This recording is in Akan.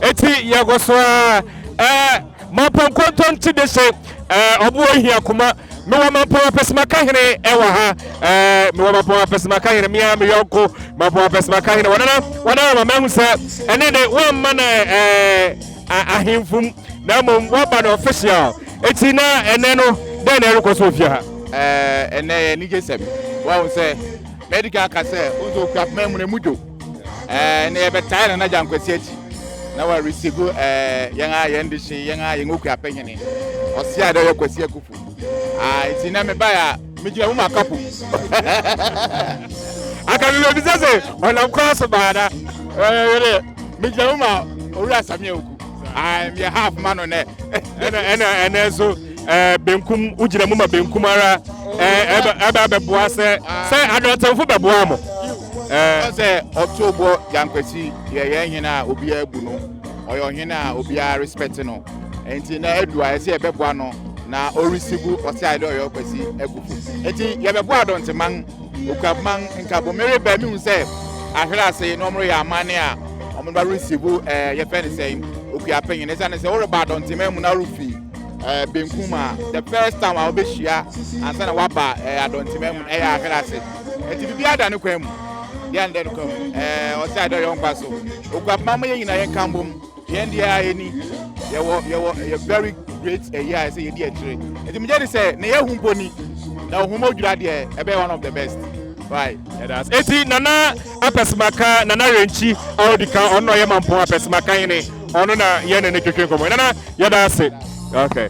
Eti yɛkɔ so ara ɛɛ Mampɔn Kɔntɔn ti de se ɛɛ ɔbo ohia kuma mewɔ Mampɔn Apɛsimaka hene ɛwɔ ha ɛɛ mewɔ Mampɔn Apɛsimaka hene mea me yɔnko Mampɔn Apɛsimaka hene wɔnana wɔnana ma mahu sɛ ɛne de wɔmma no ɛɛ ahemfum na mmom wɔaba no official eti na ɛnɛ no dɛn na ɛrekɔ so ofie ha. Ɛɛ ɛnɛ yɛ anigye sɛm wɔahu sɛ mɛdi kan aka sɛ nso okura poma mu na emu dwo. ɛɛ na yɛbɛtae no n'agya nkwasi akyi na wa receive ɛɛ yɛn a yɛn de hye yɛn a yɛn okua pɛnyini ɔsi a dɛ yɛ kwasi akufu aa nti na mi ba yɛ a mi gyina mu ma kapo akademi na ebi sɛ sɛ ɔnam kwan so baa na ɛɛ yɛ dɛ mi gyina mu ma owura sami oku aa mi yɛ half ma no nɛ ɛna ɛna ɛna nso ɛɛ benkum wogyina mu ma benkum ara ɛɛ ɛbɛ ɛbɛ abɛboa sɛ sɛ adɔtɛnfo bɛboa mo. Ɛɛ sɛ ɔto bɔ Gyankwasi yɛ yɛn hene a obiara bu no. Ɔyɛ ɔhene a obiara respect no. Nti na adu a ɛsɛ yɛbɛboa no na ɔresigu ɔsɛ ayɛ dɛ ɔyɛ ɔkwasi akufo. Nti yɛbɛboa Adɔnteman, Okuapman, Nkabo. Mereba mehu sɛ ahwere ase na wɔreyɛ amanne a wɔn ba resigu ɛɛ yɛfɛ ne sɛn Okuapanyin. Ɛsiane sɛ woreba Adɔnteman mu na worefi ɛɛ benkum a the first time a wɔbɛhyia ansa na waba ɛɛ eh, adɔntema mu ɛyɛ ahwere ase ɛti biribi ada ne kwan mu deɛ ne dɛ no kwan mu ɛɛ ɔsɛ adɛ yɛ nkwa so okuapoma ma yɛ nyinaa yɛ nka mbom yɛn deɛ a yɛni yɛwɔ yɛwɔ yɛ very great ɛyɛ a ɛsɛ yɛdi akyire ɛti mu gye de sɛ ne yɛ hu mpo ni na ohun mo dwira deɛ ɛbɛyɛ one of the best right ɛdaas ɛti nana. Apɛsɛmaka Nana Renkyi a odi kan, ɔno na ɔyɛ Mampong Apɛsɛmaka hene, ɔno na yɛne no twetwe nkɔmmɔ. Nana, yɛda ase. Okay.